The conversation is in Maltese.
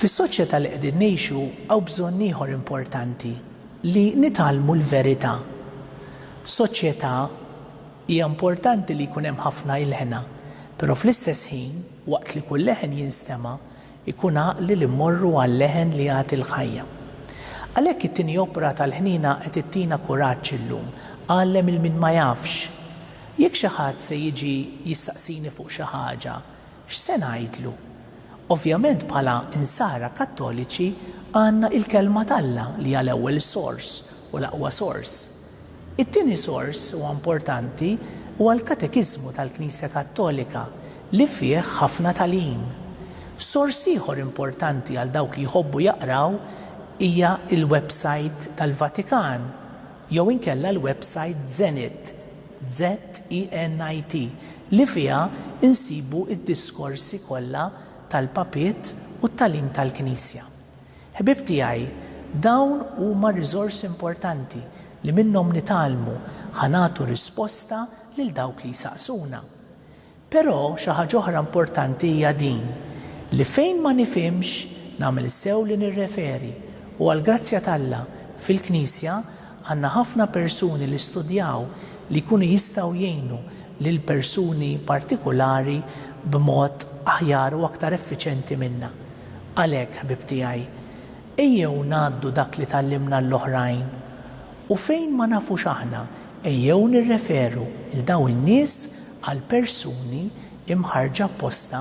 Fis-soċjetà li qegħdin ngħixu hawn bżonn ieħor importanti, li nitgħallmu l-verità. Soċjetà hija importanti li jkun hemm ħafna ilħna, però fl-istess ħin, Waqt li kull leħen jinstema', ikun għaqli li mmorru għal-leħen li jagħti l-ħajja. Għalhekk it-tieni opra tal-ħniena qed ittina kuraġġ illum, Għallem 'il min ma jafx. Jekk xi ħadd se jiġi jistaqsini fuq xi ħaġa, x'se ngħidlu? Ovvjament bħala Insara Kattoliċi għandna il-Kelma t'Alla li hija l-ewwel sors u l-aqwa sors. It-tieni sors huwa importanti huwa l-Katekiżmu tal-Knisja Kattolika li fih ħafna tagħlim. Sors ieħor importanti għal dawk li jħobbu jaqraw hija l-websajt tal-Vatikan jew inkella l-websajt Zenit, Z-E-N-I-T, li fiha nsibu d-diskorsi kollha tal-Papiet u t-tagħlim tal-Knisja. Ħbieb tiegħi, dawn huma riżorsi importanti li minnhom nitgħallmu ħa nagħtu risposta lil dawk li jsaqsuna. Però xi ħaġa oħra importanti hija din, li fejn ma nifhimx, nagħmel sew li nirreferi, u għall-grazzja t'Alla, fil-Knisja, Għandna ħafna persuni li studjaw li jkunu jistgħu jgħinu lil persuni partikulari b'mod aħjar u aktar effiċjenti minna. Għalhekk, ħbieb tiegħi, ejjew ngħaddu dak li tgħallimna l-oħrajn. U fejn ma nafux aħna, ejjew nirreferu 'l dawn in-nies għal persuni mħarrġa apposta